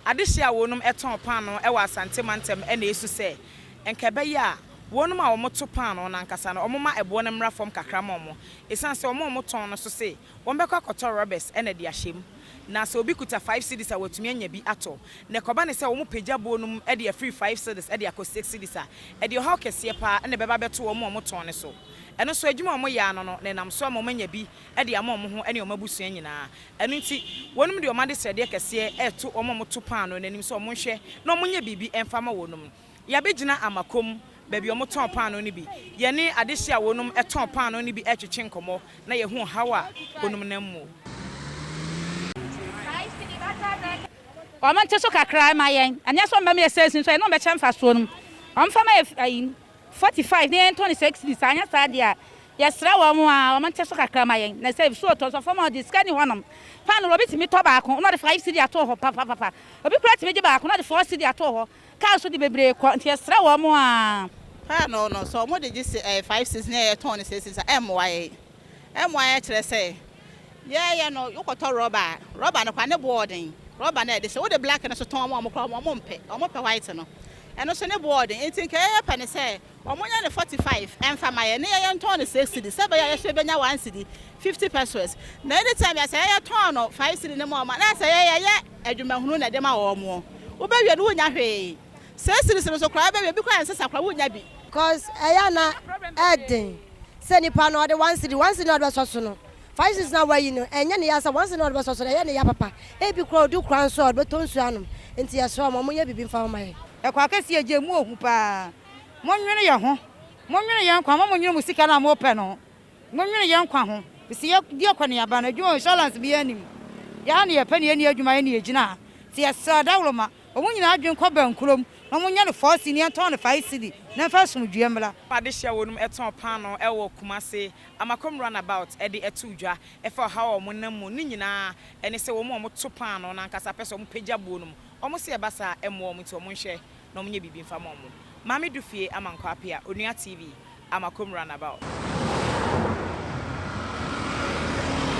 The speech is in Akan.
Adehye a wɔnom tɔn paanoo wɔ Asante mantam na esu sɛ nka ɛbɛyɛ a wɔnom a wɔto paanoo no ankasa no wɔma ɛboɔ no mmra fam kakra ma wɔn esiane sɛ wɔn a wɔtɔn no nso se wɔbɛkɔ akɔtɔ rɔbɛs na de ahyɛ mu na sɛ obi kuta five cedis a watumi anya bi atɔ na ɛkɔba ne sɛ wɔpagya boɔ no mu de afiri five cedis de akɔ six cedis a ɛde ɔhaw kɛseɛ paa na ɛbɛba abɛto wɔn a wɔtɔn no so ɛno nso adwuma a wɔyɛ ano no na ɛnam so ama wɔanya bi de ama wɔn ho ne wɔn abusua nyinaa. Ɛno nti, wɔnom de wɔn adesrɛdeɛ kɛseɛ reto wɔn a wɔto paanoo no anim sɛ wɔnhwɛ na wɔnyɛ biribi mfa mma wɔnom. Yɛabɛgyina Amakom, baabi a wɔtɔn paanoo no bi. Yɛne adehye a wɔnom tɔn paanoo no bi retwetwe nkɔmmɔ na yɛahu ɔhaw a wɔnom nam mu. Wɔnte so kakra mma yɛn. Ɛnyɛ sɛ wɔbɛma yɛsɛe sini so, ɛne wɔbɛkyɛ mfasoɔ no mu. Wɔmfa mma yɛn. Forty five na yɛntɔ no six cedis anyɛ saa deɛ a yɛsrɛ wɔn a wɔn nte so kakra ma yɛn na sɛ ebi so ɔtɔ nso fam a ɔde sika ni hɔ nom paanoo obi tumi tɔ baako na ɔde five cedi ato hɔ papapapa obi koraa tumi gye baako na ɔde four cedi ato hɔ kaa nso de bebree kɔ nti yɛsrɛ wɔn a paanoo no sɛ wɔn de gye sɛ ɛyɛ five cedis na yɛtɔn no six cedis a ɛmmoa yɛn. mmuaeɛ kyerɛ sɛ yɛyɛ no wokɔtɔ rɔba a rɔba no koraa ne boɔ ɔden rɔba no a ɛde sɛ wode black no so tɔn wɔn koraa wɔn mpɛ wɔn pɛ white no ɛno so ne boɔ ɔden nti nka yɛyɛ pɛ no sɛ wɔn nyɛ no 45 ɛnfa ma yɛ ne yɛyɛ ntɔn no 6 cedi sɛ bɛyɛ yɛhyɛ bɛnya 1 cedi 50 pesos na ɛde tɛm yɛ sɛ yɛyɛ tɔn no 5 cedi ne ma wɔn na sɛ yɛyɛ yɛ adwumahunu na ɛde ma wɔn wobɛwie no wonya hwee Sɛ series no so koraa bɛwie bi koraa ɛnsɛ sa koraa wonnya bi. Cos ɛyɛ a na ɛden sɛ nipa no ɔde one cedi one cedi na ɔde bɛsɔ so no five cedis na wayi no ɛnyɛ ne ya sɛ one cedi na ɔde bɛsɔ so no ɛyɛ ne ya papa ebi koraa odu kura nso a ɔde bɛtɔ nsuo anom nti yɛsrɛ wɔn wɔnyɛ biribi mfa ho ma yɛn. Ɛkɔ akɛseɛ agya emu ohu paa monwene yɛ ho monwene yɛ nkwa ho mma monwene mo sika no a mopɛ no ho monwene yɛ nkwa ho fisi yɛ di akɔneaba no adwuma insurance biaa nnim yɛ a ne yɛpɛ ne yɛnni adwuma yɛ ne yɛgyina ha nti yɛsrɛ dawoloma Wɔn nyinaa adwene kɔ bɛnkorɔm, na wɔnyɛ no fɔɔ sini ntɔn no fae sidi na ɛmfa asomdwoeɛ mmra. Adehye a wɔnom tɔn paanoo ɛwɔ Kumase, Amakom run about de ɛtoo dwa ɛfa ɔhaw a wɔn nam mu no nyinaa ɛne sɛ wɔn a wɔn to paanoo no ankasa pɛ sɛ wɔn pagya buo nom, wɔn se ɛba saa a ɛmmoa wɔn nti wɔn nhwɛ na wɔn nyɛ biribi mfa ma wɔn. Maame Dufie Amankwa Apea, Onua TV, Amakom run about.